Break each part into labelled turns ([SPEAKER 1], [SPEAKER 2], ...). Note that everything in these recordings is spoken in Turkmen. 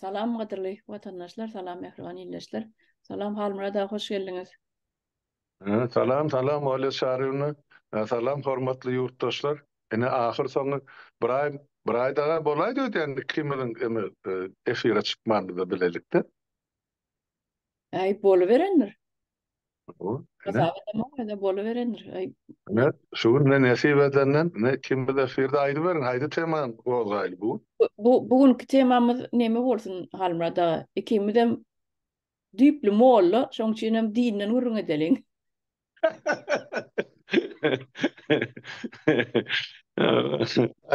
[SPEAKER 1] Salam gadyrly watandaşlar, salam mähriban ildeşler. Salam Halmyrat aga hoş geldiňiz.
[SPEAKER 2] Salam, salam Olýa Çaryýewna. Salam hormatly ýurtdaşlar. Ine ahyr soňy bir aý, bir aý daga bolaýdy öýdýän ikimiziň eme efire çykmanymyza bilelikde.
[SPEAKER 1] Äý boluberendir.
[SPEAKER 2] Bu, ine. Hasap edemok, ýöne
[SPEAKER 1] boluberendir. Aý, Ine, ýa. şu gün
[SPEAKER 2] ine nesip edenden, ine, ikimiz efirde aýdyberiň, haýsy temany gozgaýly bu gün? Bu, bu, bu günki
[SPEAKER 1] temamyz neme bolsun, Halmyrat aga? Ikimizem düýpli molla, şoň üçinem dinden gürrüň edeliň.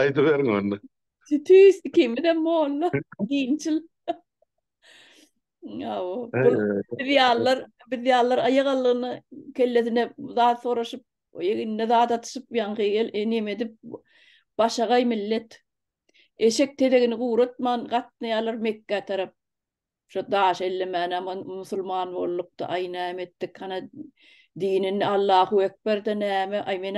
[SPEAKER 2] Aýdyberiň onda. Tüýs,
[SPEAKER 1] ikimizem molla, dinçil. Biz ýalylar, biz ýalylar aýak aldygyna kellesine zat soraşyp, egnine zat atyşyp, ýaňky el enem edip, başagaý millet. Eşek tezegini guratman gatnaýarlar Mekgä tarap. Şo daş ellemäne musulman boldukda, aý näme etdik, hana dinin Allahu ekber-de näme, aý men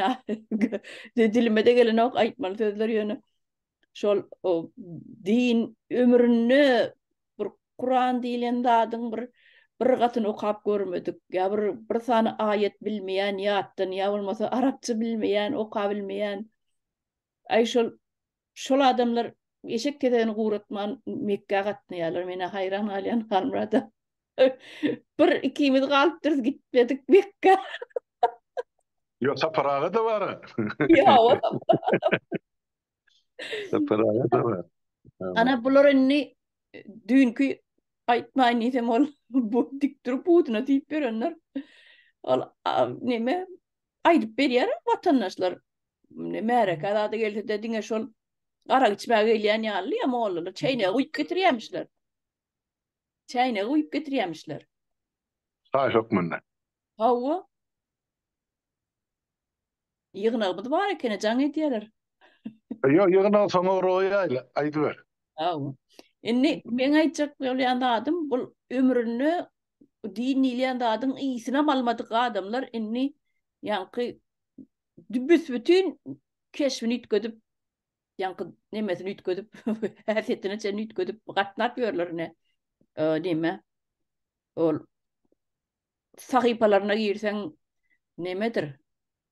[SPEAKER 1] dilimede gelenok aýtmaly sözler ýöne. şol din ömründe bir Kuran diýlen zadyň bir bir gatyny okap görmedik, ýa bir bir sany aýat bilmeýän ýatdan, ýa bolmasa arapça bilmeýän, okap bilmeýän. Aý şol şol adamlar eşek kezegini guratman Mekgä gatnaýarlar. Men haýran galýan Halmurada. bir ikimiz galypdyrys gitmedik Mekgä.
[SPEAKER 2] Ýo saparaga da bar. Ýa o. Ana bular
[SPEAKER 1] indi düýnki aýtmaýyn diýsem ol bu dik durup buduna diýip berenler. Ol näme aýdyp berýär watandaşlar. Märeke zada gelse-de diňe şol arak içmäge gelýän ýaly ýa mollalar çeýnegi guýup getirýärmişler. Çäýnegi guýup getirýämişler. Çaý
[SPEAKER 2] hökmünde. Hawa.
[SPEAKER 1] Ýygnagymyz bar ekeni, jaň edýäler. Ýok,
[SPEAKER 2] ýygnagy soňa goýaýla, aýdyber. Hawa.
[SPEAKER 1] Indi meň aýtjak bolýan zadym, bul ömründe din diýilýän zadyň ysynam almadyk adamlar indi ýaňky büs-bütin keşbini üýtgedip, ýaňky nemesini üýtgedip, häsiýetini çen üýtgedip gatnap ýörler ne. Näme? Ol sahypalaryna girseň nemedir?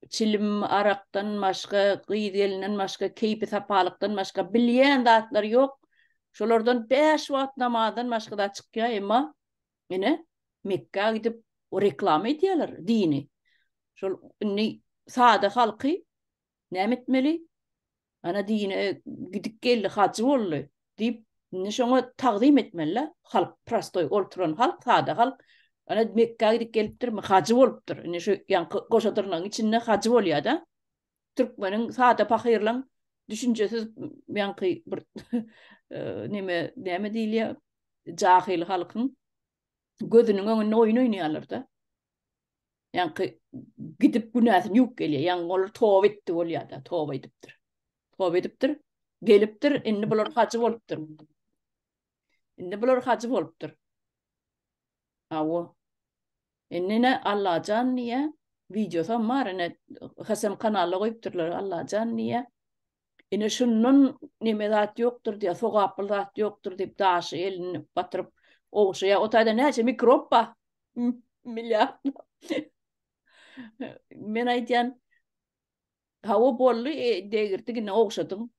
[SPEAKER 1] Çilim arakdan başga, gyz gelinden başga, keýpi sapalykdan başga bilýän zatlar ýok. Şolardan 5 wagt namazdan başga da çykýar, emma ine Mekka gidip reklama edýärler dini. Şol indi sada halky Näme etmeli? Ana dine gidip geldi, hajy boldy diýip, indi şoňa tagzym etmeli. Halk prostoý olturan halk, sada halk. Ana Mekka gidip gelipdirmi, hajy bolupdyr. Indi şu ýanky goşadyrnyň içinde hajy bolýar-da. Türkmeniň sada pahyrlaň düşünjesiz ýanky bir näme, näme diýilýär? Jahyl halkyň gözüniň öňünde oýun oýnaýarlar-da. Ýaňky gidip günäsini ýuwup gelýär. Ýaňky olar toba etdi bolýar-da, toba edipdir. Toba edipdir, gelipdir, indi bular hajy bolupdyr. Indi bular hajy bolupdyr. Awo. Indi ne Allajan diýýär, wideosam bar, ine Hasem kanalda goýupdyrlar Allajan diýýär. Ine şundan neme zat ýokdur diýýär, sogaply zat ýokdur diýip daşy elini batyryp ogşaýar. O taýda näçe mikrob bar? Milliardlap. Men aýdýan, hawa boldy, e, degirdi, indi ogşadyň.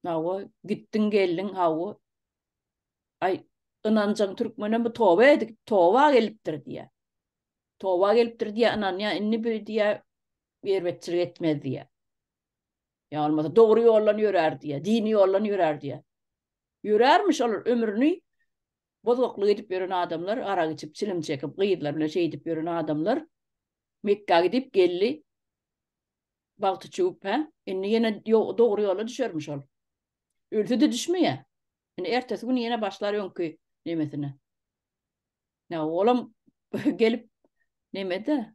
[SPEAKER 1] Hawa, gitdiň, geldiň, hawa. Aý, ynanjaň türkmenem bu toba edip, toba gelipdir diýýär. Toba gelipdir diýýär, ynanýar, indi bu diýýär, erbetçilik etmez diýýär. Ýa bolmasa dogry ýoldan ýörär diýýär, dini ýoldan ýörär diýýär. Ýörärmiş olar ömrüni bozgaklyk edip ýören adamlar, arak içip, çilim çekip, gyzlar bilen şeýdip ýören adamlar Mekgä gidip geldi. Bagty çüwüp, hä? Indi ýene dogry ýola düşermiş ol. Ölse-de düşmeýär. Indi ertesi gün ýene başlar öňki nemesine. Ýa olam gelip nemede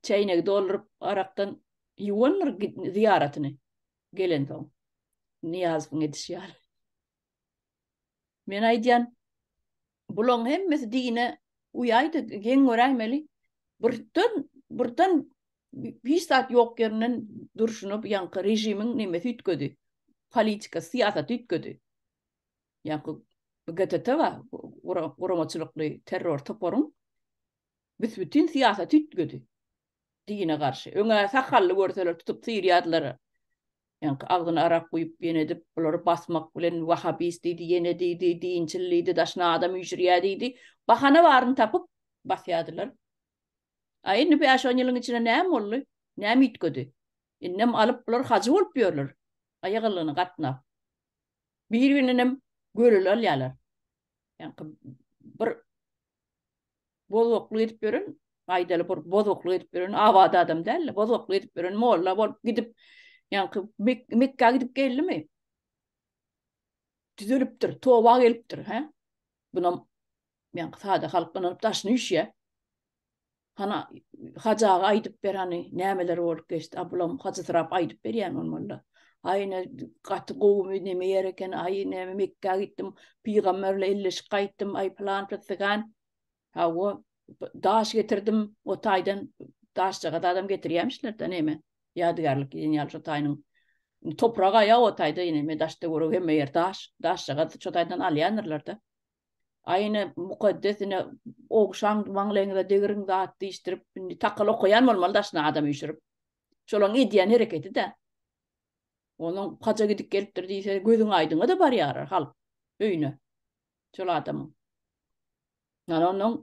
[SPEAKER 1] çäýnegi dolduryp arakdan ýuwandyr zyýaratyny gelensoň. Nyýazowyň edişi ýaly. Men aýdýan, bulaň hemmesi dine uýaýdy, geň göräýmeli. Birden, birden hiç zat ýok ýerinden durşuna bu ýaňky režimiň nemesi üýtgedi. Politika, syýasaty üýtgedi. Ýaňky GTT bar, guramaçylykly terror toparyň Büs-bütin syýasy tüýtgedi. Dine garşy. Öň-ä sakally görseler tutup syrýadylar. Ýaňky agzyna arak guýup ýene edip bulary basmak bilen wahabist diýdi, ýene diýdi, dinçil diýdi, daşyna adam üýşürýär diýdi. Bahana baryny tapyp basýadylar. A indi bäş-on ýylyň içinde näme boldy? Näme üýtgedi? Indem alyp bular hajy bolup ýörler. Aýagyllygyna gatnap. Bir-birindenem göreli alýarlar. Ýaňky bir Bozgaklyk edip ýören, gaýdaly bir bozgaklyk edip ýören abat adam däldi. Bozgaklyk edip ýören molla bolup gidip, ýaňky Mekgä gidip geldimi? Düzelipdir, toba gelipdir, hä? Bunam ýaňky sada halk ynanyp daşyny üşýär. Hana Hajy aga aýdyp ber hany nämeler bolup geçdi. A bulam Hajysyrap aýdyp berýän bolmalyda. Aý ne gaty gowumy neme ýer eken aý näme Mekgä gitdim pygamber bilen elleşip gaýtdym aý plan pytgan. Hawa daş getirdim o taýdan daşjagaz adam getirýämişler-de neme ýadygärlik diýen ýaly şo taýynyň toprak aýa o taýda ýene me daşda görüp hemme ýer daş daşjagaz şo taýdan alýandyrlar-da. Aýna mukaddes ine ogşan maňlaýyňyza degiriň zat diýişdirip, indi takal okaýan bolmaly daşyna adam üýşürip. Şolaň edýän hereketi-dä. Onuň haja gidip gelipdir diýse, gözüň aýdyňa-da barýar halk öýüne. Şol adamyň. Ýani onuň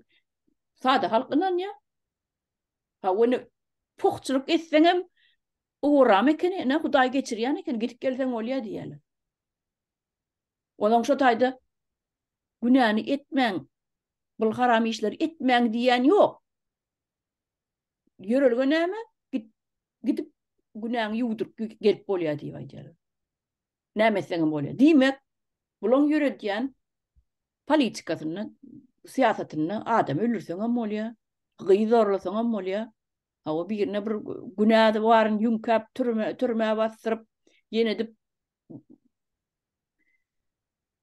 [SPEAKER 1] sada halk ynanýar. Ha ony puhçulyk etseňem, ugram ekeni, ine Hudaý geçirýän ekeni, gidip gelseň bolýar diýýärler. Onuň şo taýda günäni etmäň, bul haram işleri etmäň diýýän ýok. Ýörelge näme? Git, gidip günäňi ýuwduryp gelip bolýar diýip aýdýarlar. Näme etseňem bolýar. Diýmek, bulaň ýöredýän politikasynda, syýasatynda adam öldürseňem bolýar, gyz zorlasaňam bolýar. Hawa, birine bir günäsi baryny ýüňkäp, türmä, türmä basdyryp, ýene edip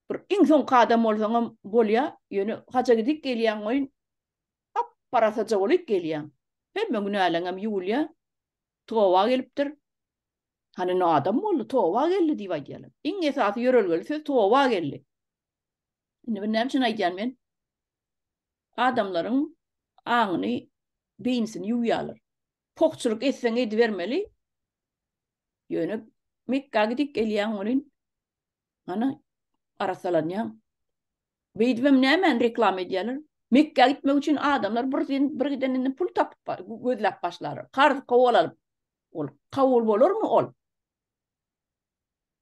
[SPEAKER 1] bir iň soňky adam bolsaňam bolýar, ýöne haja gidip gelýäň goýun, gap-garasaja bolup gelýäň. Hemme günäleňem ýuwulýar, toba gelipdir. Hany indi adam boldy, toba geldi diýip aýdýarlar. Iň esasy ýörelgeli söz toba geldi. Indi bu näme üçin aýdýan men? Adamlaryň aňyny, beýnisini ýuwýarlar. Pokçulyk etseň edibermeli. Ýöne Mekga gidip gelýäň welin ana arasalanýaň. Beýdibem nämäni reklama edýärler? Mekga gitmek üçin adamlar bir sen bir gideninden pul tapyp gözläp başlarlar. Karz kowalalyp. Ol kabul bolarmy ol?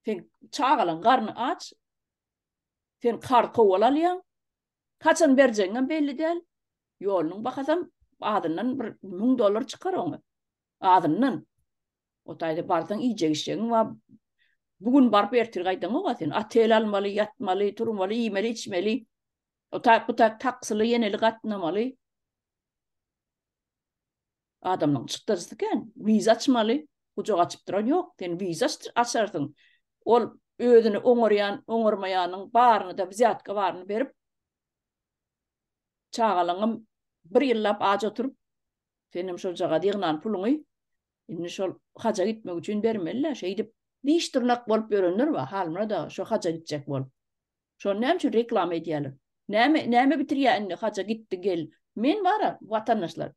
[SPEAKER 1] Sen çagalaň garny aç. Sen karz kowalalýaň. Haçan berjegiňem belli däl. Ýolunyň bahasam azyndan bir müň dollar çykar oňa. Azyndan. O taýda barsaň iýjek-içjegiň bar. Bu gün baryp ertir gaýdaňog-a sen. Otel almaly, ýatmaly, turmaly, iýmeli-içmeli. O taýk-bu taýk taksili, ýeneli gatnamaly. Adamlaň çykdajysy kän. Wiza açmaly. Gujak açyp duran ýok. Sen wiza açarsyň. Ol özüni oňarýan, oňarmaýanyň baryny-da, wzýatka baryny berip, çagalaňam bir ýyllap aç oturyp, senem şojagaz ýygnan puluňy indi şol haja gitmek üçin bermeli-dä. Şeýdip, diş-dyrnak bolup ýörenler bar. Halmyrat aga, şo haja gitjek bolup. Şony näme üçin reklama edýäler? Näme näme bitirýä indi haja gitdi gel. Men bara watandaşlar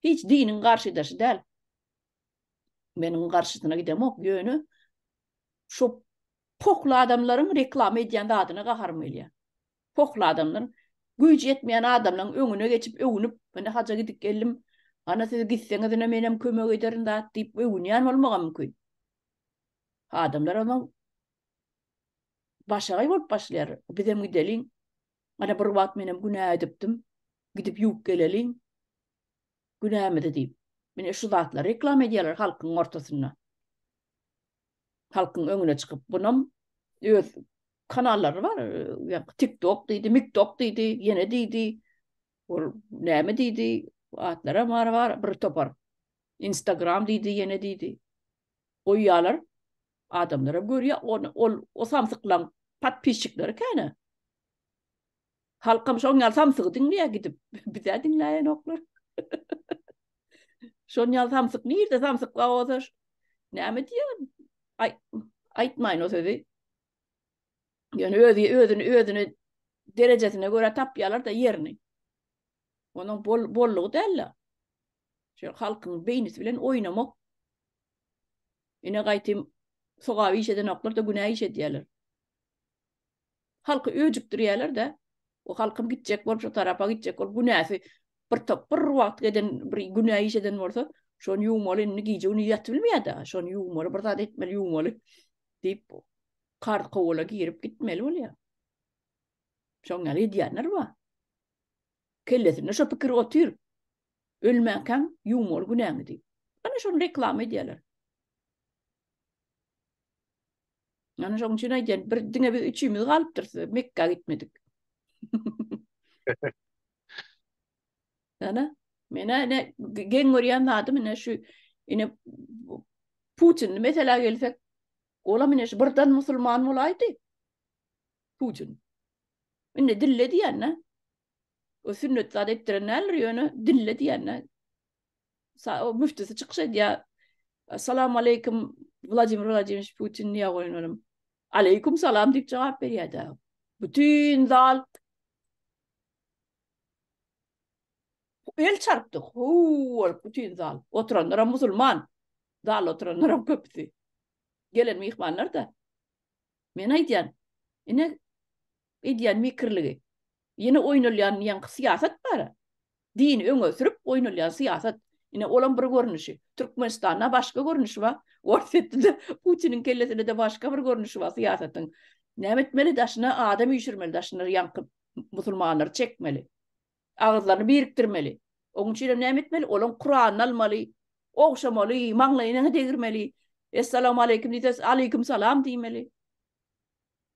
[SPEAKER 1] hiç diniň garşydaşy däl. Men onuň garşysyna gidemok. Ýöne şu pohly adamlaryň reklama edýän zadyna gaharym gelýär. Pohly adamlar güýji ýetmeýän adamlaryň öňüne geçip öwünip, indi haja gidip geldim. Ana siz gitseňiz ine menem kömek ederin zat diýip öwünýän bolmagam mümkin. Adamlar onuň başagaý bolup başlaýar. Bizem gideliň. Ana bir wagt menem günä edipdim. Gidip ýuwup geleliň. Günämizi diýip. Mine şu zatlary reklama edýärler halkyň ortasynda. Halkyň öňüne çykyp, bunam öz kanallary bar. TikTok diýdi, MikTok diýdi, ýene diýdi. Ol näme diýdi? Atlary bar, bar bir topar. Instagram diýdi, ýene diýdi. Goýýarlar. Adamlara görýä ony ol o samsyklaň podpisçikleri käne. Halkam şoň ýaly samsygy diňleýä gidip bizä diňläýenoklar. Şoň ýaly samsyk nirde samsyk bar bolsa näme diýýä aý aýtmaýyn o sözi. Ýöne özi özüni özüni derejesine görä tapýarlar da ýerini. Onuň bol bollugy däl-de. Şol halkyň beýnisi bilen oýnamak Ine gaýtym sogaby iş edenoklar-da günä iş edýärler. Halky öjükdirýärler-de, o halkym gitjek bolup, şo tarapa gitjek bolup, günäsi bir top bir wagt giden, bir günä iş eden bolsa, şony ýuwmaly, indi gije-gündiz ýatybilmeýär-de, şony ýuwmaly, bir zat etmeli, ýuwmaly diýip, karz kowala girip gitmeli bolýar. Şoň ýaly edýänler bar. Kellesinde şo pikir otyr. Ölmäkäň ýuwma ol günäňi diýip. Ana şony reklama edýärler. Ana şoň üçin aýdýan, bir diňe biz üçimiz galypdyrys, Mekka gitmedik. Ana, mena ne geň görýän zadym ine şu ine Putin mesela gelsek, ola mine şu birden musulman bolaýdy. Putin. Indi dille diýän, ne? O sünnet zat etdiren däldir ýöne dille diýende o müftüsi çykyş edýär. Assalamu aleykum Vladimir Vladimiroviç Putin diýä goýun olam. Aleykum salam diýip jogap berýärdi. Bütün zal el çarpdy. Hu bolup bütün zal. Oturanlar hem musulman. Zal oturanlar hem köpüsi. Gelen mihmanlar da. Men aýdýan. Ine Edýän mekirligi. Ýene oýnalýan ýaňky syýasat bar-a. Dini öňe sürüp oýnalýan syýasat. Ine, olam bir görnüşi. Türkmenistanda başga görnüşi bar. Orsýetde-de, Putiniň kellesinde-de başga bir görnüşi bar syýasatyň. Näme etmeli? Daşyna adam üýşürmeli, daşyna ýaňky musulmanlary çekmeli. Agyzlaryny birikdirmeli. Oň üçinem näme etmeli? Olaň Kuranyny almaly, ogşamaly, maňlaýyna degirmeli. Essalawmaleýkim diýse, aleýkumsalam diýmeli.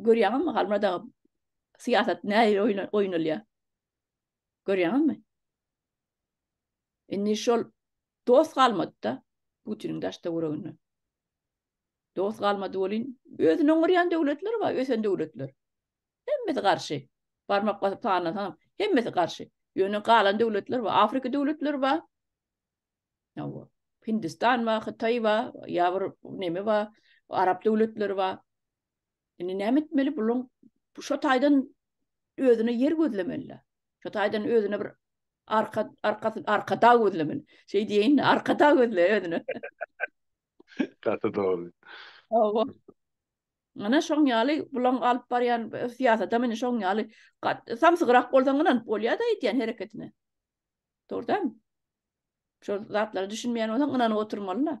[SPEAKER 1] Görýäňizmi Halmyrat aga syýasat nähili oýnalýar? Görýäňizmi? Indi şol dost galmady-da Putiniň daşda gurugyny. Dost galmady bolin, özüni oňurýan döwletler bar, ösen döwletler. Hemmesi garşy. Barmak basyp sanlasaňam, hemmesi garşy. Ýöne galan döwletler bar, Afrika döwletleri bar. Hawa. Hindistan bar, Hytaý bar, ýa bir neme bar, arap döwletleri bar. Indi näme etmeli buluň? Şu taýdan özüne ýer gözlemeli. Şu taýdan özüne bir arka arka arka dag gözlemeli. Şeý diýeýin, arka dag gözle özüne.
[SPEAKER 2] Gaty dogry. Hawa.
[SPEAKER 1] Ana şoň ýaly buluň alyp barýan syýasata meni şoň ýaly samsygrak bolsaň ynanyp bolýar-da edýän hereketine. Dogrudan. Şol zatlara düşünmeýän bolsaň ynanyp oturmaly-da.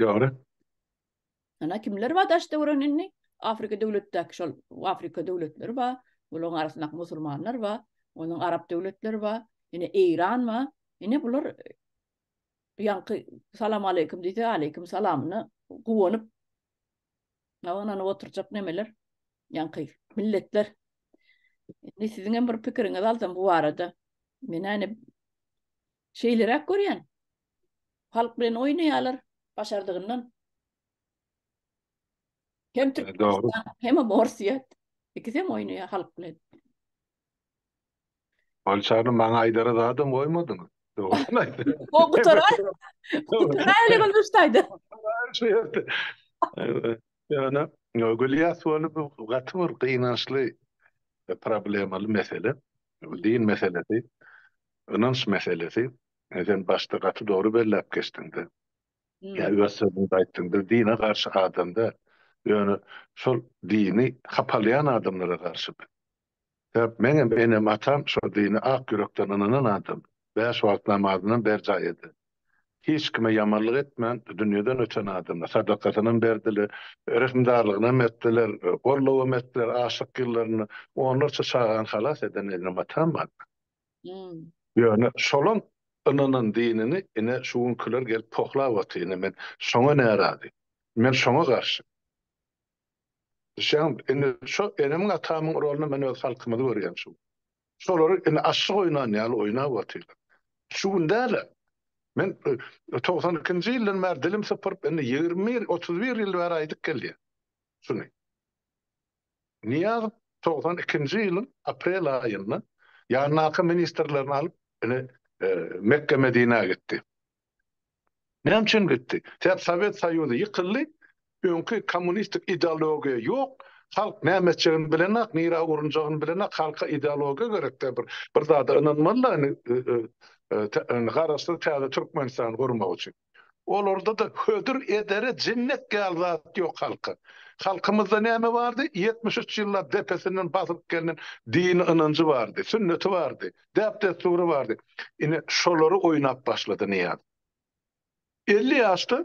[SPEAKER 2] Dogry.
[SPEAKER 1] Ana kimler bar daş döwren indi? Afrika döwletdäki şol Afrika döwletleri bar. Bularyň arasynda musulmanlar bar. Onuň arap döwletleri bar. Ine Eýran bar. Ine bular ýaňky salam aleýkum diýse aleýkum salamyna guwanyp ynanyp oturjak nemeler ýaňky milletler. Indi siziň hem bir pikiriňizi alsam bu barada. Men äni Şeýleräk görýän. Halk bilen oýnaýarlar başardygyndan. Hem Türkmenistan, hem
[SPEAKER 2] Orsýet.
[SPEAKER 1] Ikisem oýnaýar halk bilen.
[SPEAKER 2] Bolçany maňa aýdara zadam goýmadyňyz. Dogrusyny aýtdy. O gutarar.
[SPEAKER 1] Gutaraýly gülüşdäýdi. Şu ýerde.
[SPEAKER 2] Ýöne Gülýas bolup gaty bir gynançly problemaly mesele. Bu din meselesi. Ynanç meselesi, sen başda gaty dogry belläp geçdiňda. Ýa öz sözüňde aýtdyňda, dine garşy adam däl. Ýöne şol dini hapalaýan adamlara garşy biz. Sebäp meňem enem atam şol dine ak ýürekden ynanan adam. Bäş wagt namazynam berjaý eden. Hiç kime ýamanlyk etmän dünýeden öten adamlar. Sadakasynam berdiler, rehimdarlygynam etdiler, gollawam etdiler, açlyk ýyllarynda onlarça çagany halas eden enem atam bar.
[SPEAKER 1] Ýöne şolam
[SPEAKER 2] ynanan dinini ine şu günkiler gelip pohlap otyr ine men şoňa närazy. Men şoňa garşy. Düşýäňmi? Indi şo enemiň atamyň rolunda men öz halkymyzy görýän şu. Şolary indi aşyk oýnan ýaly oýnap otyrlar. Şu gün däl-ä. Men togsan ikinji ýyldan bäri dilim sypyryp indi ýigrimi bir, otuz bir ýyl bäri aýdyp gelýän şuny. Nyýazow togsan ikinji ýylyň aprel aýynda ýanyndaky ministrlerini alyp, ine, Mekge-Medinä gitdi. Näme üçin gitdi? Sebäp Sowet Soýuzy ýykyldy, öňki kommunistik ideologiýa ýok, halk näme etjegini bilenok, nirä urunjagyny bilenok, halka ideologiýa gerek-dä, bir bir zada ynanmaly-da indi, garaşsyz täze Türkmenistany gurmak üçin. Olarda-da hödür edere jennet ýaly zat ýok halka. Halkymyzda näme bardy? Ýetmiş üç ýyllap depesinden basylyp gelnen dini ynanjy bardy, sünneti bardy, däp-dessury bardy. Ine, şolary oýnap başlady Nyýaz. Elli ýaşda,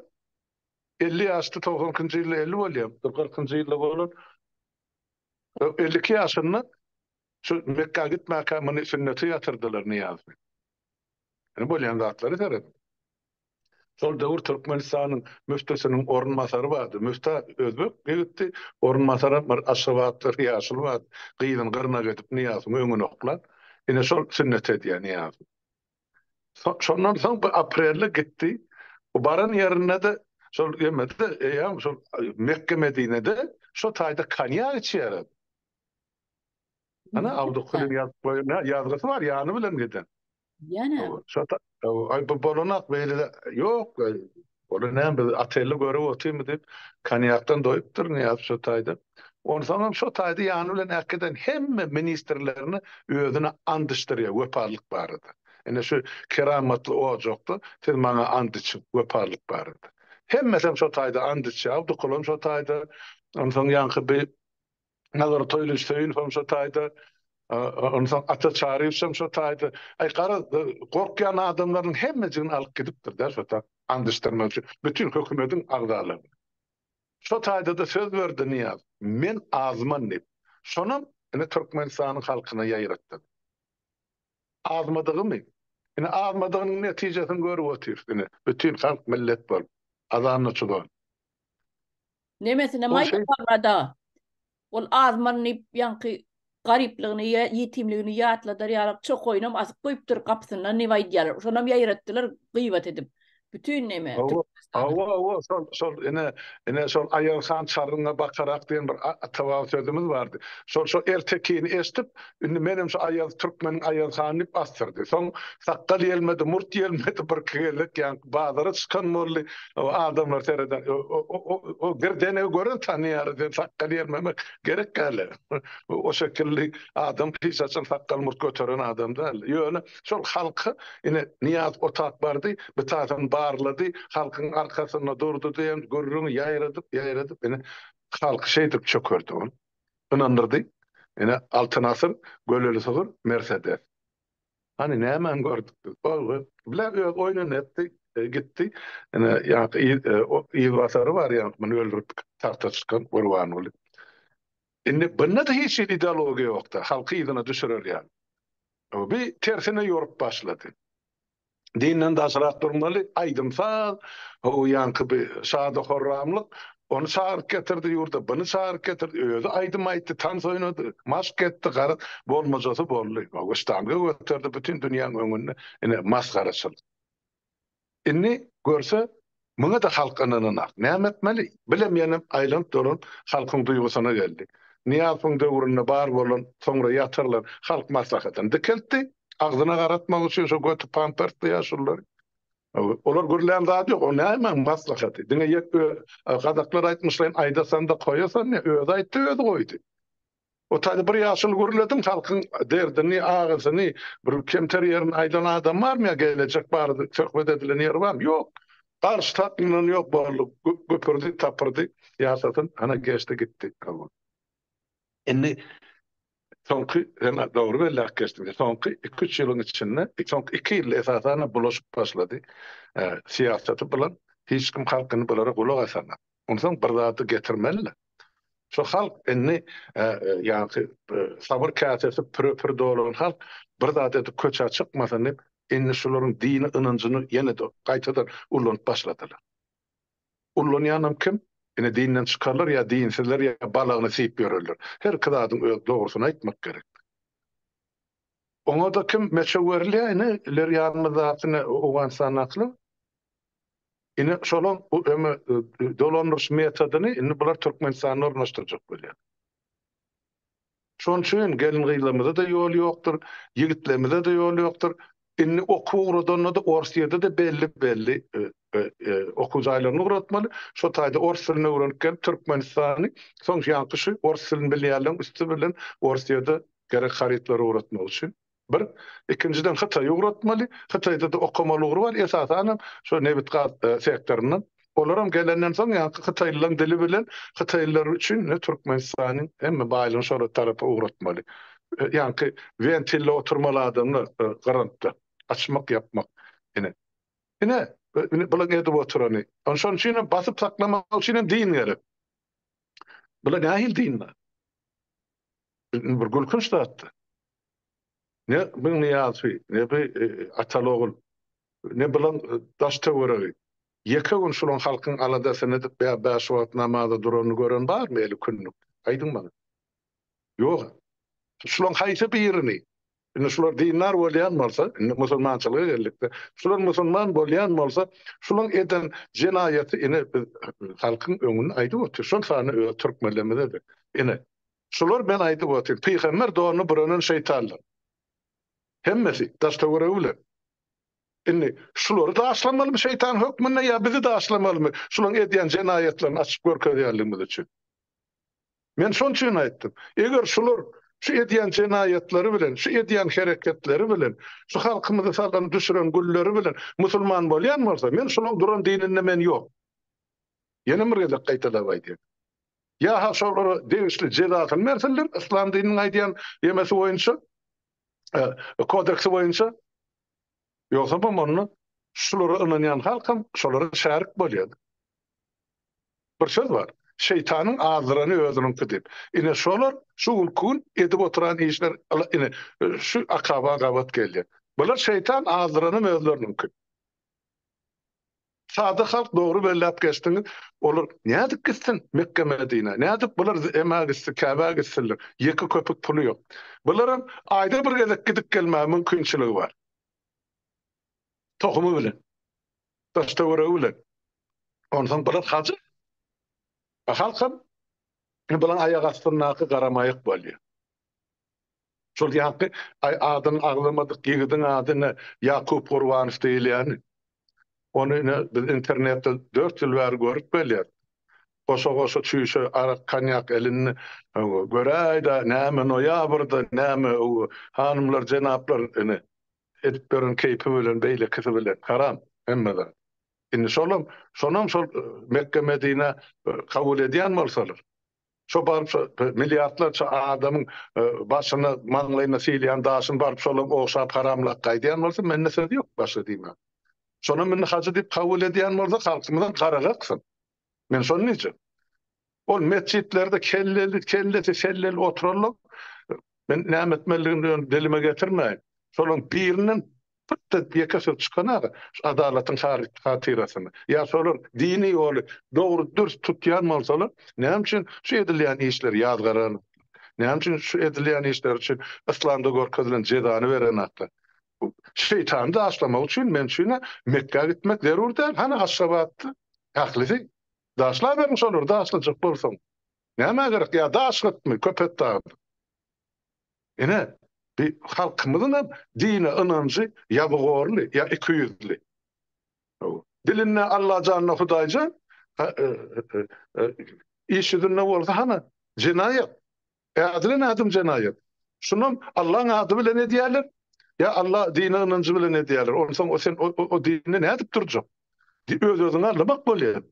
[SPEAKER 2] elli ýaşda, togsan ikinji ýylda elli bolýar, bir kyrkynjy ýylda bolan, elli iki ýaşynda şu Mekgä gitmäkä muny sünneti ýatyrdylar Nyýazy. Ýöne bolýan zatlara serediň. Şol döwür Türkmenistanyň müftisiniň orunbasary bardy. Müfti özbek ýigitdi, orunbasaram bir aşgabatly ýaşuly bardy. Gyzyny gyrnak edip Nyýazyň öňüne oklan. Ine şol sünnet edýär Nyýazy. Şondan soň bir aprelde gitdi. Bu baran ýerinde-de şol ýemedi-de, eýýäm şol Mekge-Medinede şo taýda konýak içýärdi. Ana Abdukulyň ýazyp goýan ýazgysy bar ýany bilen giden. Ýana.
[SPEAKER 1] Şota
[SPEAKER 2] aý bu bolanak beýle ýok. Ol näme biz atelde görüp otyrmy diýip, konýakdan doýupdyr Nyýaz Şotaýda. Onsoň hem Şotaýda ýany bilen äkiden hemme ministrlerini özüne and içdirýär wepalylyk barada. Ine şu keramatly ojakda siz maňa and içiň wepalylyk barada. Hemmesi hem Şotaýda and içýär. Abdukuly hem Şotaýda. Onsoň ýaňky bir Nazar Toýlyç Söýünow hem şo taýda, ondan soň Ata Çaryýew hem şo taýda. Aý, gara, gorkýan adamlarynyň hemmejigini alyp gidipdir-dä şo taý, and içdirmek üçin, bütin hökümediň agzalaryny. Şo taýda-da söz berdi Nyýaz, Men azman diýip. Şonam ine Türkmenistanyň halkyna ýaýratdy. Azmadygymy? Ine, azmadygynyň netijesini görüp otyrys ine, bütin halk millet bolup, azanly-çugan.
[SPEAKER 1] Nemesine Ol şeý- maýdaparada. Ol azman diýip ýaňky garyplygyny, ýa- ýetimligini ýatladar ýaly çokaýynam asyp goýupdyr gapysyndan diýip aýdýarlar. Şonam ýaýratdylar gyýbat edip. Bütin neme, Hawa, Türkmenistanda. Hawa, hawa,
[SPEAKER 2] şol, şol, ine, ine şol Aýazhan çaryňa bakarak diýen bir a- ata-baba sözümiz bardy. Şol, şol ertekini eşidip, Indi menem şu Aýaz türkmeniň Aýaz han diýip astyrdy. Soň sakgal ýelmedi, murt ýelmedi, birki gezek ýaňky bazara çykan boldy. Adamlar sereden, O girdenegi gören tanaýar, sen sakgal ýelmemek gerek däl-le. O şekilli adam hiç haçan sakgal murt göteren adam däl. Ýöne şol halka ine Nyýaz otap bardy, bitatyny barlady, halkyň arkasynda durdy diýen gürrüňi ýaýradyp, ýaýradyp ine halky şeýdip çökerdi ol. ynandyrdy. Ine, Altyn asyr, Göleli sygyr, Mersedes. Hany, nämäni gördük biz? Ol-ol, bile öz oýnuny etdi, gitdi. Ine, ýaňky ýygbasary bar, ýaňky muny öldürip tagta çykan Gurbanguly. Indi bunda-da hiç hili ideologiýa ýok-da, halky yzyna düşürerýär. Bi tersine ýorup başlady. Dinden daşrak durmaly, aýdym-saz, ho-o ýaňky bi şady-horramlyk, ony çagyryp getirdi ýurda, buny çagyryp getirdi, özi aýdym aýtdy, tans oýnady, maşk etdi, garaz, bolmajasy boldy. Ho-o ştanga göterdi, bütin dünýäň öňünde ine masgaraçylyk. Indi görse, Muňa-da halk ynananak. Näme etmeli? Bilem ýaňam aýlanyp-dolanyp halkyň duýgusyna geldi. Nyýazowyň döwründe bar bolan, soňra ýatyrylan halk maslahatyny dikeltdi. Agzyna garatmak üçin şo göti pampersli ýaşululary. Olar gürlän zat ýok. O nämäň maslahaty? Diňe ýek ö, gazaklar aýtmyşlaýyn aýdasan-da goýasan ne, özi aýtdy, özi goýdy. Otaýda bir ýaşuly gürledim halkyň derdini agysyny bir kemter ýerini aýdan adam barmy ýa gelejek bardy söhbet edilen ýer barmy ýok garşy takyňdan ýok boldy güpürdi tapyrdy ýasasyn ana geçdi gitdi owal indi soňky sen dogry belläp geçdiň soňky iki üç ýylyň içinde soňky iki ýylda esasan bulaşyp başlady syýasaty bilen hiç kim halkyny bulara gulak asanok. Onsoň bir zady getirmeli-le. Şu halk indi ýaňky sabyr käsesi püre-pür dolan halk bir zat edip köçä çykmasyn diýip, indi şularyň dini ynanjyny ýene-de gaýtadan ullanyp başladylar. Ullanýanam kim? Ine dinden çykarlar ýa dinsizler ýa balagyny syýyp ýörerler. Herki zadyň öz dogrusyny aýtmak gerek. Oňada kim meçew berilýär ine ileri ýanymyzdaky ine owganystandakylar ine şolam öňe dolandyryş metodyny indi bular türkmenistanda ornaşdyrjak bolýar. Şonuň üçin gelin gyzlarymyzada ýol ýokdur ýigitlerimizede ýol ýokdur indi okuw ugradanda-da orus ýerde-de belli belli okuw jaýlaryny ugratmaly şo taýda orus dilini öwrenip gelip türkmenistany soň ýaňky şu orus dilini bilýänleriň üsti bilen orus ýerde gerek harytlary ugratmak üçin. Bir, ikinjiden Hytaýa ugratmaly, Hytaýda-da okamaly ugry bar, esasanam şo nebit-gaz sektoryndan. Olaram gelenden soň ýaňky hytaýlylaryň dili bilen hytaýlylar üçin Türkmenistanyň hemme baýlygyny şolar tarapa ugratmaly. Ýaňky wentilde oturmaly adamlar grantda açmak, ýapmak. Ine, ine bularyň edip oturany. Şonuň üçin hem basyp saklamak üçin hem din gerek. Bular nähili dinler? Indi bir gülkünç zatdy. Ne bir Niýazy, ne bir e, Atalyogul, ne bilen e, daş töweregi. Ýeke gün şulan halkyň aladasyny edip, bä bäş wagt namaza duranyny gören barmy eli künlük? Aýdyň maňa. Ýok. Şulan haýsy birini Indi şular dindar bolýan bolsa, indi musulmançylyga geldikde, şular musulman bolýan bolsa, şulaň eden jenaýaty ine biz halkyň öňünde aýdyp otyr, şol sany öz türkmenlerimize-de. Ine, şular men aýdyp otyryn, pygamber donuny bürenin şeýtanlar. Hemmesi, daş-töweregi bilen. Indi şulary daşlamalymy şeýtan hökmünde ýa bizi daşlamalymy, şulaň edýän jenaýatlaryny açyp görkezýänligimiz üçin? Men şoň üçin aýtdym, eger şular şu edýän jenaýatlary bilen, şu edýän hereketleri bilen, şu halkymyzy sallan düşüren gülleri bilen musulman bolýan bolsa, men şulaň duran dininde men ýok. Ýene bir gezek gaýtalap aýdýan. Ýa-ha şolara degişli jezasyny bersinler, yslam dininiň aýdýan emesi boýunça, kodeksi boýunça. Ýogsabam onda şulara ynanýan halkam şolara şärik bolýardy. Bir söz bar, Şeýtanyň azdyrany özüniňki diýip. Ine şolar şu günki gün edip oturan işler ine şu akaba gabat gelýär. Bular şeýtan azdyranam özleriniňki. Sada halk dogry belläp geçdiňiz. Olar nädip gitsin Mekge Medinä? Nädip bular emä gitsin, Käbä gitsinler? Ýeke köpük puly ýok. Bularam aýda bir gezek gidip gelmäge mümkinçiligi bar. Tohumy bilen. Daş-töweregi bilen. Onsoň bular hajy. Halkam bularyň aýak astyndaky garamaýak bolýar. Şol ýaňky Aý adyň aglamadyk ýigidiň ady ine Ýakup Gurbanow diýilýäni. Ony ine biz internetde dört ýyl bäri görüp gelýäs. Goşa-goşa çüýşe arak konýak elinde göräýdä näme noýabrda näme hanymlar jenaplar ine edip ýören keýpi bilen beýlekisi bilen haram hemme zat. Indi şolam şonam şol Mekge Medinä kabul edýän bolsalar. Şo baryp şo milliardlarça adamyň başyna, maňlaýyna sylýan daşyny baryp şolam ogşap haramlap gaýdýan bolsa, mende söz ýok başga diýmä. Şonam indi hajy diýip kabul edýän bolsa, halkymyzam gara gaksyn. Men şony diýjek. Ol metjitlerde kelleli, kellesi selleli oturanlar, men näme etmelidigini dilime getirmäýin. Şolaryň biriniň Pytda ýeke söz çykanaga adalatyň hatyrasyna, ýa şolar dini ýoly dogry dürs tutýan bolsalar, näme üçin şu edilýän işleri ýazgaranoklar? Näme üçin şu edilýän işleri üçin yslamda görkezilen jezany berenoklar? Bu şeýtany daşlamak üçin men üçin-ä Mekgä gitmek zerur däl, hany Aşgabatda ählisi. Daşlaberiň şolary daşlajak bolsaň. Nämä gerek, ýa daş gytmy Köpetdagda? Ine, bi halkymyzyň hem dine ynanjy ýazygorly ýa ikiýüzli. Hawa. Dilinde Allajanda Hudaýjan, iş ýüzünde bolsa hany, jenaýat. Ädilen adam jenaýat. Şunam Allaň ady bilen edýärler, ýa Alla dine ynanjy bilen edýärler. Onsoň o sen o dinde nädip durjak? Öz-özüňi allamak bolýar.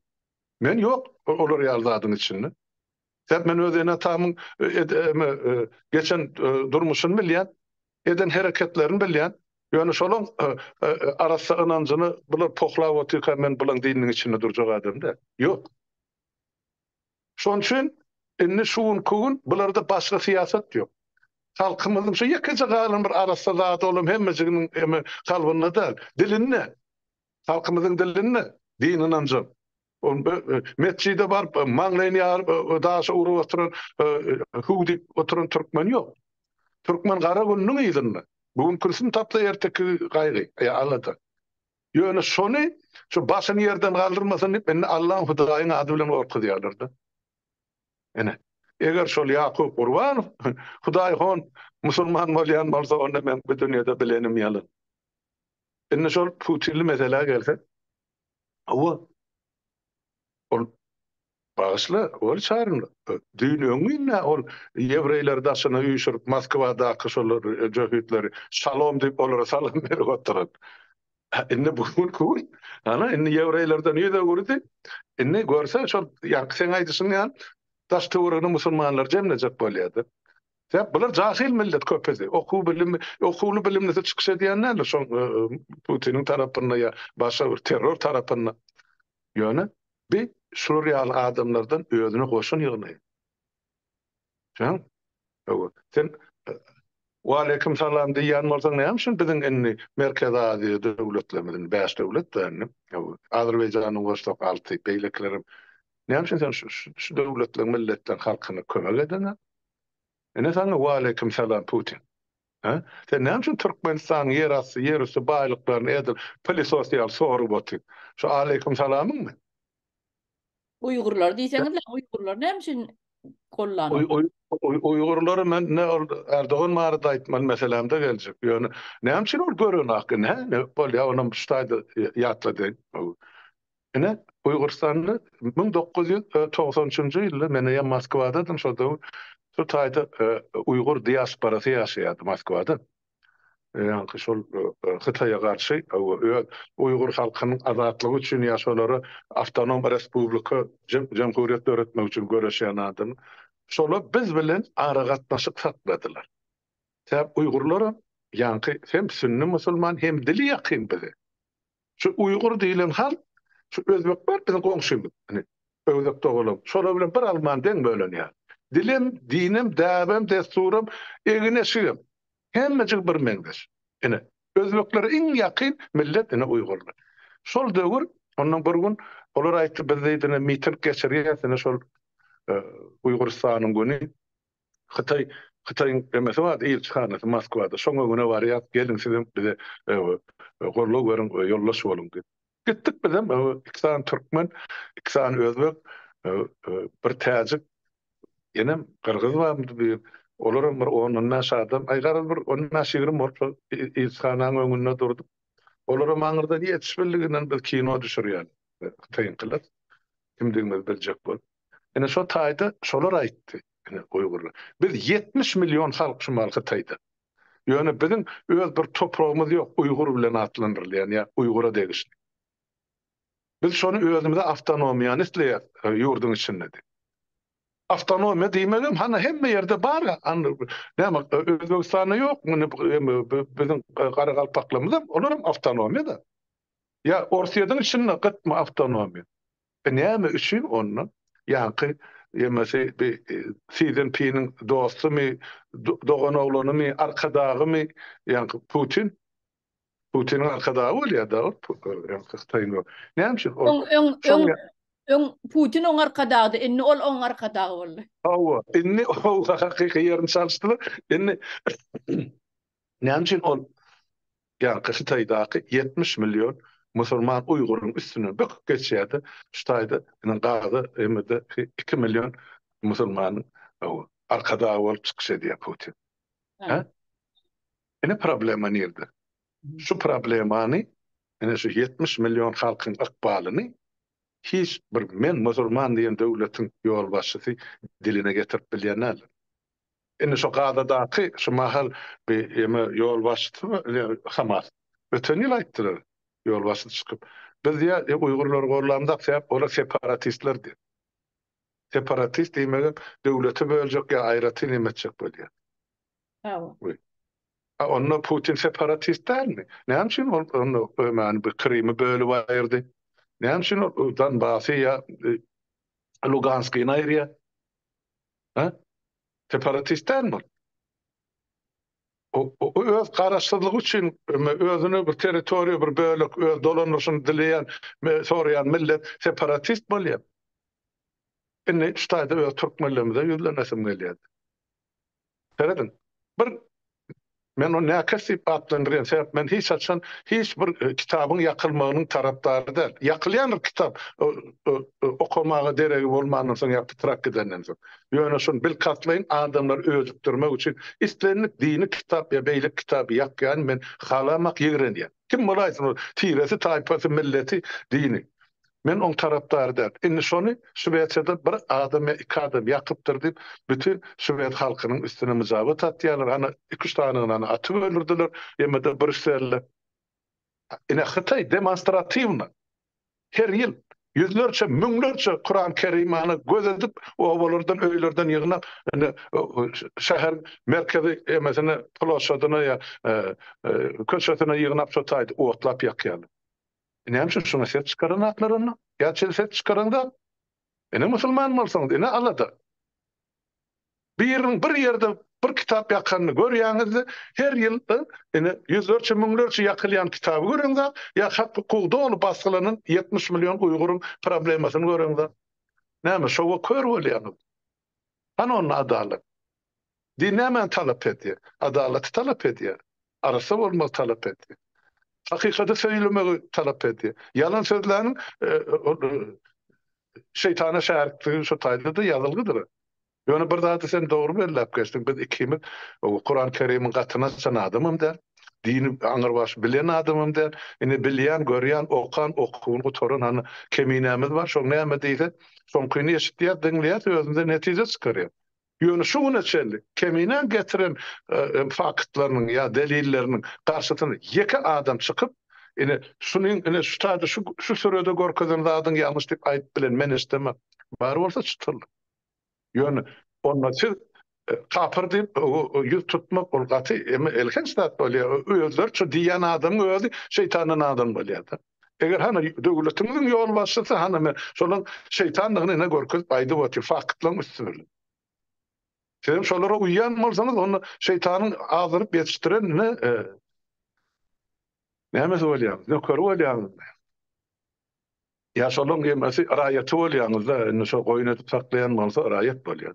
[SPEAKER 2] Men ýok olar ýaly zadyň içinde. Sebäp men öz ene-atamyň geçen durmuşyny bilýän, eden hereketlerini bilýän. Ýöne şolaň arassa ynanjyny bular pohlap otyrka men bulaň dininiň içinde durjak adam däl. Ýok. Şonuň üçin indi şu günki gün bularda başga syýasat ýok. Halkymyzyň şu ýekeje galan bir arassa zady olam hemmejiginiň kalbynda däl, dilinde. Halkymyzyň dilinde din ynanjam. Metjide baryp maňlaýyny ýaryp daşa urup oturan hüw diýip oturan türkmen ýok. Türkmen gara gününiň yzynda. Bu gün kürsini tapsa erteki gaýgy, alada. Ýöne şony şu başyny ýerden galdyrmasyn diýip indi Allaň Hudaýyň ady bilen gorkuzýarlar-da. Ine, eger şol Ýakup Gurbanow Hudaý hon musulman bolýan bolsa onda meň bu dünýede bilenim ýalan. Indi şol putinli meselä gelsek, Hawa. Ol Bagyşla, ol çaryn düýn öňňinlä ol ýewreýleri daşyna üýşürip Moskwadaky şol jöhitleri şalom diýip olara salam berip oturan. Indi bu gün ku gün hany indi ýewreýlerden ýüz öwürdi. Indi görse şol ýaňky seň aýdyşyň ýaly daş-töweregine musulmanlary jemlejek bolýa-da. Sebäp bular jahyl millet köpüsi. Okuw bilim, okuwly bilimlisi çykyş edýän näme şo Putiniň tarapynda ýa başga bir terror tarapynda. Ýöne bi şular ýaly adamlardan özüne goşun ýygnaýar. Jan, öwür. Sen Waleýkim salam diýýän bolsaň näme üçin biziň indi Merkezi Aziýa döwletlerimiziň bäş döwlet bar indi. Azerbaýjanyň goşsak alty, beýlekilerem. Näme üçin sen şu döwletleriň milletlerini halkyna kömek edeňok? Ine saňa waleýkim salam Putin. Hä? Sen näme üçin Türkmenistanyň ýer asty, ýer üsti baýlyklaryny edil pylysos ýaly sorup otyň? Şu aleýkim salamyňmy?
[SPEAKER 1] Uýgurlary diýseňizle, uýgurlary
[SPEAKER 2] näme üçin gollanok? Uýgurlary men ne ol Erdogan barada aýtmaly meselämde geljek. Ýöne näme üçin ol görenak indi hä? Bolýa onam şu taýda ýatladyň. Ine, Uýgurystanda müň dokuz ýüz togsan üçünji ýylda men eýýäm Moskwadadym, şol döwür şu taýda uýgur diasporasy ýaşaýardy Moskwada. Ýaňky şol Hytaýa garşy öz uýgur halkynyň azatlygy üçin ýa şolara awtonom respublika, jemhuriýet döretmek üçin göreşýän adam. Şolar biz bilen aragatnaşyk sakladylar. Sebäbi uýgurlaram ýaňky hem sünni musulman, hem dili ýakyn bize. Şu uýgur diýilen halk, şu özbek bar biziň goňşymyz, ine, öwzek dogalam, şolar bilen bir alman deň bölenýär. Dilem, dinem, däbem, dessuram, egin-eşigem, hemmejigi birmeňzeş. Ine, özbeklere iň ýakyn millet, ine, uýgurlar. Şol döwür, ondan bir gün olar aýtdy, biz diýdi, ine, miting geçirýäs, ine, şol Uýgurystanyň güni, Hytaý Hytaýyň emesi bardy ilçihanasy Moskwada şoň öňüne barýas geliň sizem bize gorlag beriň ýoldaş boluň diýip. Gitdik bizem iki sany türkmen iki sany özbek bir täjik enem gyrgyz barmydy bir olaram bir on on bäş adam aý garaz bir on bäş ýigrimi bolup şol ilçihananyň öňünde durduk olaram aňyrdan ýetişmeliginden biz kino düşürýän hytaýyňkylar kimdigimizi biljek bolup. Ine şo taýda şolar aýtdy, ine uýgurlar. Biz ýetmiş million halk şu mahaly Hytaýda. Ýöne biziň öz bir topragymyz ýok, uýgur bilen atlandyrylýan ýa uýgura degişli. Biz şony özümize awtonomiýany isleýäs ýurduň içinde diýip. Awtonomiýa diýmegem hany hemme ýerde bar, näme Özbegistanda ýokmy, biziň garagalpaklarymyzam, olaram awtonomiýa-da. Ýa Orsýetiň içinde gytmy awtonomiýa? E näme üçin onda? Ýaňky ýemesi bi Sizinpiniň dostumy, doganoglanymy, arkadagymy ýaňky Putin? Putiniň arkadagy bolýa-da ol ýaňky Hytaýyň o. Näme üçin ol? Öň, öň, öň
[SPEAKER 1] Putin oň arkadagydy, indi ol oň arkadagy boldy.
[SPEAKER 2] Hawa, indi hakyky ýerini çalyşdylar. Indi näme üçin ol Ýaňky Hytaýdaky ýetmiş million musurman uýguryň üstünden böküp geçýärdi, şu taýda ine gazy MD-ki iki million musurmanyň arkadagy bolup çykyş edýär Putin. Hä? Ine problema nirde? Şu problemany, ine şu ýetmiş million halkyň ykbalyny hiç bir men musurman diýen döwletiň ýolbaşçysy diline getirip bilýän däldir. Indi şu Gazadaky şu mahal bi eme ýolbaşçysy bar ine Hamas. Öten ýyl aýtdylar ýolbaşçysy çykyp. Biz diýä e uýgurlary gorlamzak sebäp olar separatistler diýip. Separatist diýmegem döwleti böljek ýa aýratyn neme etjek bolýa. Hawa.
[SPEAKER 1] Wi. A
[SPEAKER 2] onda Putin separatist dälmi? Näme üçin ol onda ömäni bi Krymy bölüp aýyrdy? Näme üçin ol Donbasy ýa e Luganskyny aýyrýa? Hä? Separatist dälmi ol? O öz garaşsyzlygy üçin özüne bir territoriýa, bir bölek öz dolandyryşyny dileýän, soraýan millet separatist bolýar. Indi şu taýda öz türkmenlerimize ýüzlenesim gelýär. Serediň, bir Men ony näkes diýip atlandyrýan, sebäp men hiç haçan hiç bir kitabyň ýakylmagynyň tarapdary däl. Ýakylýandyr kitap okamaga deregi bolmandan soň ýa pytrak gidenden soň. Ýöne şuny bilkastlaýyn, adamlary öjükdirmek üçin islendik dini kitap ýa beýleki kitaby ýakýany men halamak ýigrenýän. Kim bolaýsyn ol, tiresi, taýpasy, milleti, dini. Men oň tarapdary däl. Indi şony Şwesiýada bir adam ýa iki adam ýakypdyr diýip, bütin şwes halkynyň üstüne myjabat atýarlar. Hany, iki-üç sanyny-da atyp öldürdiler. Ýemede Brýusselde, ine, Hytaý demonstratiwna her ýyl ýüzlerçe, müňlerçe Kuran Kerimany göz edip, obalardan, öýlerden ýygnap, indi şäheriň merkezi emesine, ploşadyna ýa köçesine ýygnap, şo taýda otlap ýakýarlar. Näme üçin şuny ses çykaran atlar onda? Ýa çyn ses çykaran zat? Ine musulman bolsaňyz, ine alada. Biriniň bir ýerde bir kitap ýakanyny görýäňizde, her ýyl ine ýüzlerçe, müňlerçe ýakylýan kitaby göreňda, ýa hak hukugy doly basgylanan ýetmiş million uýguryň problemasyny göreňde. Näme şowa kör bolýaňyz? Hany onda adalat? Din nämäni talap edýär? Adalaty talap edýär. Arassa bolmagy talap edýär. Hakykaty söýlemegi talap edýär. Ýalan sözläniň ol şeýtana şärikdigi şo taýda-da ýazylgydyr. Ýöne bir zady sen dogry belläp geçdiň, biz ikimiz Kuran-Kerimiň gatyny açan adamam däl. Dini aňyrbaş bilen adamam däl. Ine bilýän, görýän, okan, okuwyny gutaran hany Keminämiz bar, şoň näme diýse, şoňkyny eşitýäs, diňleýäs, özümden netije çykarýas. Ýöne şu güne çenli Keminäň getiren faktlarynyň ýa delilleriniň garşysyna ýeke adam çykyp, ine şunuň, ine şu taýda şu şu sürede görkezen zadyň ýalňyş diýip aýdyp bilen men eşidemok. Bar bolsa çytyrlyk. Ýöne onda siz kapyr diýip ýüz tutmak ol gaty eme elhenç zat bolýar. Özleri şu diýýän adamyň özi şeýtandan adam bolýar-da. Eger hany döwletiňiziň ýolbaşçysy hany men şolaň şeýtandygyny ine görkezip aýdyp otyr faktlaryň üsti bilen. Siz hem şolara uýýan bolsaňyz onda şeýtanyň azdyryp ýetişdiren ine nämesi bolýar nökeri bolýaňyz. Ýa şolaň emesi raýaty bolýaňyzda indi şo goýun edip saklaýan bolsa raýat bolýar.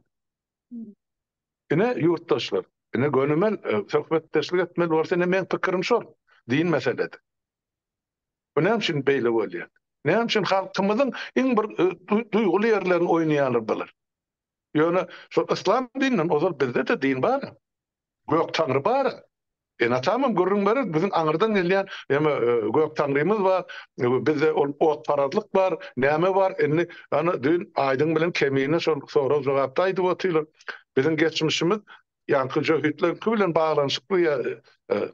[SPEAKER 2] Ine ýurtdaşlar ine gönümel söhbetdeşlik etmeli bolsa ine meň pikirim şol din meselede. Bu näme üçin beýle bolýar? Näme üçin halkymyzyň iň bir duýguly ýerlerini oýnaýarlar bular? Ýöne şo yslam dininden ozal bizde-de din bar. Gök Taňry bar, Eneatamam gürrüň berer, biziň aňyrdan gelýän ýa-da Gök Taňrymyz bar, bizde ol otparazlyk bar, näme bar, indi ýa-da düýn Aýdyň bilen Kemine şol sorag-jogapda aýdyp otyrlar. Biziň geçmişimiz ýaňky jöhitleriňki bilen baglanyşykly ýa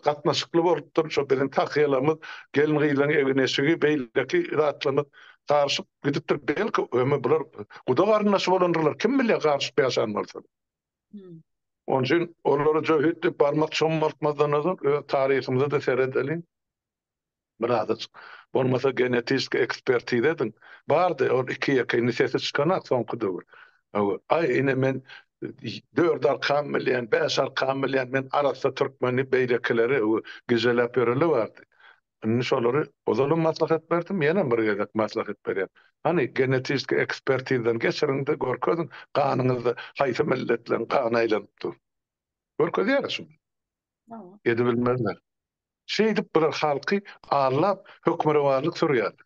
[SPEAKER 2] gatnaşykly bolupdyr, şo biziň tahýalarymyz, gelin-gyzlaryň egin-eşigi, beýleki zatlarymyz garyşyp gidipdir, belki, ýa-da bular guda-garyndaş bolandyrlar, kim bilýär, garyşyp ýaşan bolsalar. Onun üçin olara jöhit diýip barmak çommaltmazdan ozal öz taryhymyza da seredeliň. Biraz bolmasa genetiki ekspertiza ediň. Bardy ol iki ýeke indi sesi çykanak soňky döwür. Aý ine men dört arkam bilýän, bäş arkam bilýän, men arassa türkmeni beýlekileri gijeläp ýöreli bardy. Indi şolary ozalem maslahat berdim, ýenem bir gezek maslahat berýän. Hany, genetiki ekspertizdan geçiriň-de, görkeziň, ganyňyzda haýsy milletleriň gany aýlanyp dur. Görkezýäris şuny. Edebilmezler. Şeýdip bular halky aldap, hökmürowanlyk sürýärler.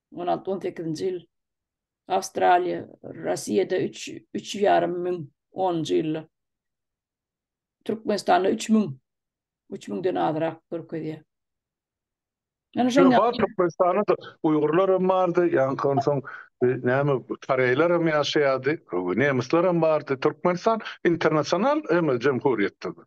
[SPEAKER 1] on alty-on sekizinji ýyl Awstraliýa, Russiýada üç, üç ýarym müň onunjy ýylda. Türkmenistanda üç müň, üç müňden azrak görkezýär. Ýöne Ýöne şoň bar Türkmenistanda da
[SPEAKER 2] uýgurlar hem bardy, ýaňky onsoň e, näme koreýler hem ýaşaýardy, nemisler hem bardy. Türkmenistan internasional hem jemhuriýetdir.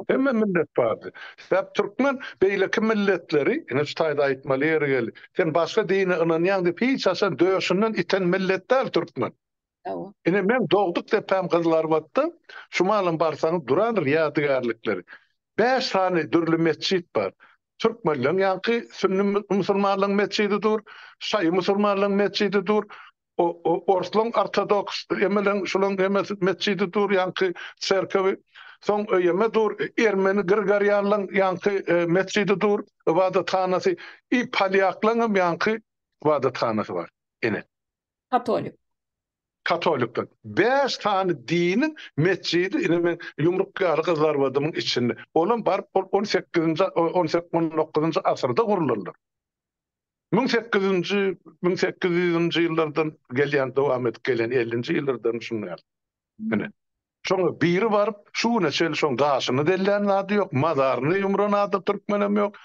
[SPEAKER 2] Hemme millet bardy. Sebäp türkmen beýleki milletleri, ine şu taýda aýtmaly ýeri geldi. Sen başga dine ynanýaň diýip hiç haçan döşünden iten millet däl türkmen. Ine meň dogduk depäm Gyzylarbatda şu malam barsaňyz durandyr ýadygärlikleri. Bäş sany dürli metjit bar. Türkmenleň ýaňky sünni musulmanlaň metjidi dur, şaýy musulmanlaň metjidi dur. Orslaň ortodoks, emeleň şulaň emesi metjidi dur ýaňky çerkewi, soň öýeme dur ermeni grigorianlaň ýaňky metjidi dur, ybadathanasy, i polýaklaňam ýaňky ybadathanasy bar. Ine. Katolik. Katolikden. Bäş sany diniň metjidi ine men ýumruk ýaly gyzarbadymyň içinde. Olam baryp ol on sekizinji on sek on dokuzynjy asyrda gurlanlar. Müň sekiz ýüzünji, müň sekiz ýüzünji ýyllardan gelýän, dowam edip gelýän, ellinji ýyllardan şuny ýaly. Ine, şoňa biri baryp, şu güne çenli şoň gaşyny dellän zady ýok, mazaryny ýumran ady türkmenem ýok.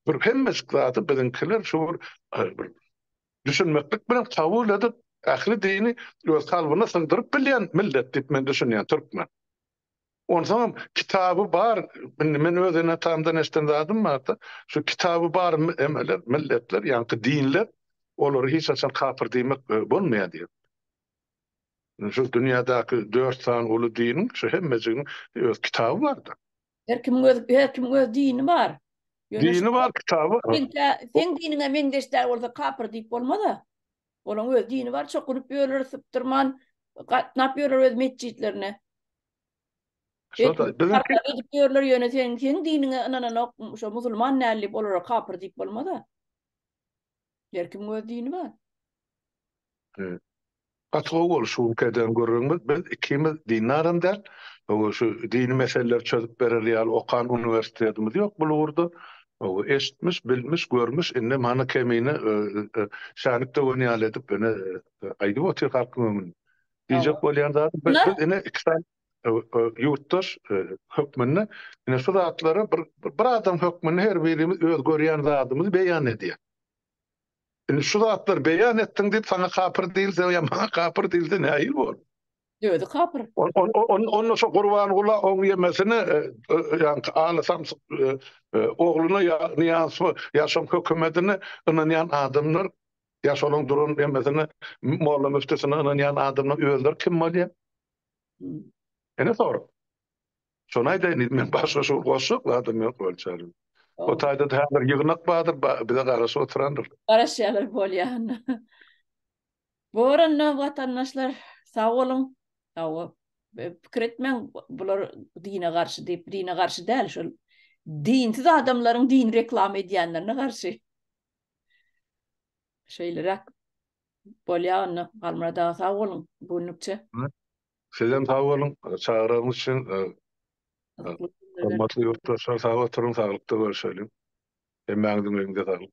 [SPEAKER 2] Bir hemmejik zady biziňkiler şu bir, bir düşünmeklik bilen kabul edip, ähli dini öz kalbyna sygdyryp bilýän millet diýip men düşünýän, türkmen. Onsoňam kitaby bar, indi men öz ene-atamdan eşden zadym barda, şu kitaby bar emeler, milletler, ýaňky dinler olary hiç haçan kapyr diýmek bolmaýar diýip. Şu dünýädäki dört sany uly diniň şu hemmejiginiň öz kitaby bar-da. Her kimiň öz,
[SPEAKER 1] her kimiň öz dini bar. Dini bar,
[SPEAKER 2] kitaby. Seň diniňe
[SPEAKER 1] meňzeş däl bolsa kapyr diýip bolmaz-a. Olaň öz dini bar, çokunyp ýörler, sypdyrman gatnap ýörler öz metjitlerine.
[SPEAKER 2] Şo-da, biziňki... Edip ýörler, ýöne
[SPEAKER 1] seň, seň diniňe ynananok, şo musulman näl diýip, olara kapyr diýip bolmaz-a. Her kim öz dini bar. Evet.
[SPEAKER 2] Gaty gowy boldy şu günki eden gürrüňimiz. Biz ikimiz dini adam däl. Şu dini meseleleri çözüp berer ýaly okan uniwersitetimiz ýok bu ugurda. Hawa, eşitmiş, bilmiş, görmüş, indi mana Kemine şänik döwen ýaly edip ine aýdyp otyr halkyň öňünde. Diýjek bolýan zadym, biz ine iki sany ýurtdaş hökmünde ine şu zatlary bir adam hökmünde her birimiz öz görýän zadymyzy beýan edýäs. Indi şu zatlar beýan etdiň diýip saňa kapyr diýilse ýa maňa kapyr diýilse nähili bolar?
[SPEAKER 1] Özi kapyr. Onda şo
[SPEAKER 2] Gurbangula oň ýemesini e, e, ýaňky ala samsyk e, ogluna ýa niýansy ýa şoň hökümetine ynanýan adamlar ýa şolaryň duran ýemesini molla müftüsine ynanýan adamlar özleri kim bolýar? Ene sorag. Şony aýdaýyn diýdim men başga şu goşjak zadym ýok bolçary. O taýda-da häzir ýygnak bardyr, bize garaşyp oturandyr. Garaşýarlar bolýar
[SPEAKER 1] onda. Borandan watandaşlar sag boluň. Hawa, pikir etmäň bular dine garşy diýip, dine garşy däl şol dinsiz adamlaryň dini reklama edýänlerine garşy. Şeýleräk bolýar onda. Halmyrat aga sag boluň bu günlükçe. Sizem
[SPEAKER 2] sag boluň, çagyraňyz üçin. Hormatly ýurtdaşlar, sag oturyň, saglykda görşeliň. Hemmäňiziň eliňize saglyk.